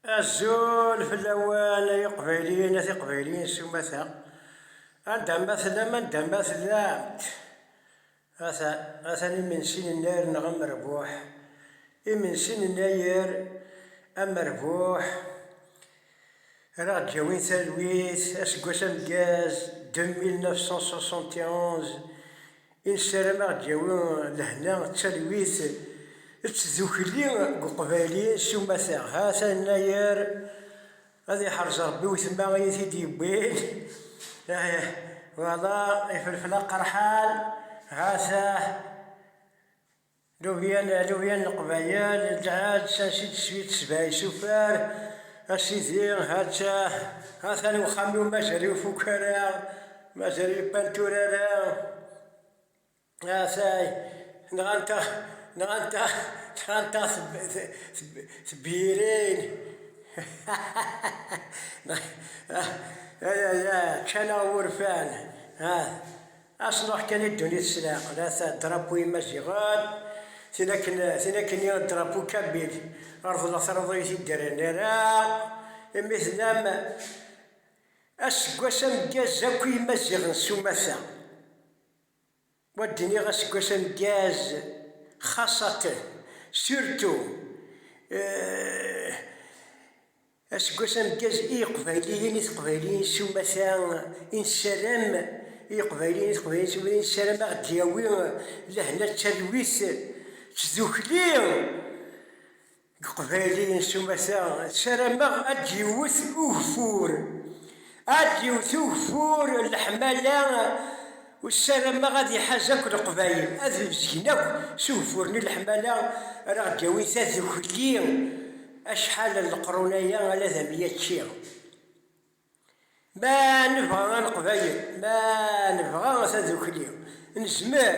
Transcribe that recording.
Azul fell-awen ay iqbayliyen a tiqbayliyin s umata, anda ma tellam anda ma tellamt. Atan, atan imensi n Yennayer neɣ amerbuḥ, imensi n Yennayer amerbuḥ. Ara ɣ-d-yawin talwit, aseggas ameggaz 2971, i nessaram ad ɣ-d-yawi lehna d talwit d tdukli deg uqbayli s umata. Hat annayer, ad iḥrez Rebbi wetma i yi-t-id-yewwin, ih, wala ifelfel aqerḥan, ha-t-ah. Lubya n lubya n leqbayel, lɛed s asi teswi tesbay s ufar, a sidi hatta atan uxxam-iw mazal ur ifuk ara, mazal ur ipantur ara, atay nɣant-aɣ nɣant-aɣ nɣant-aɣ tebyirin ayaya, ččan-aɣ wurfan ah. A s-nruḥ kan i ddunit s leɛqel, a-t drapeau imaziɣen, tin akken tin akkenni a drapeau kabyle, reḍleɣ taruḍuyt i d-rnreɣ imi tennam aseggas ameggaz akk i yimaziɣen s umata, wa d-nniɣ aseggas ameggaz xaṣaten, surtout, Aseggas ameggaz i Yeqbayliyen i Teqbayliyin s umata i nessaram i Yeqbayliyen i Teqbayliyin s umata i nessaram a ɣ-d-yawi lehna d talwit d tdukli deg Yeqbayliyen s umata ssarameɣ a d-yewwet ugeffur a d-yewwet ugeffur n leḥmala Ur ssarameɣ ad iḥaz akk leqbayel, ad mmezgen akk s ugeffur n leḥmala ara ɣ-d-yawi tadukli, acḥal n leqrun-aya ala d amya ččiɣ. Ma nebɣa a leqbayel, ma nebɣa tadukli, nezmer.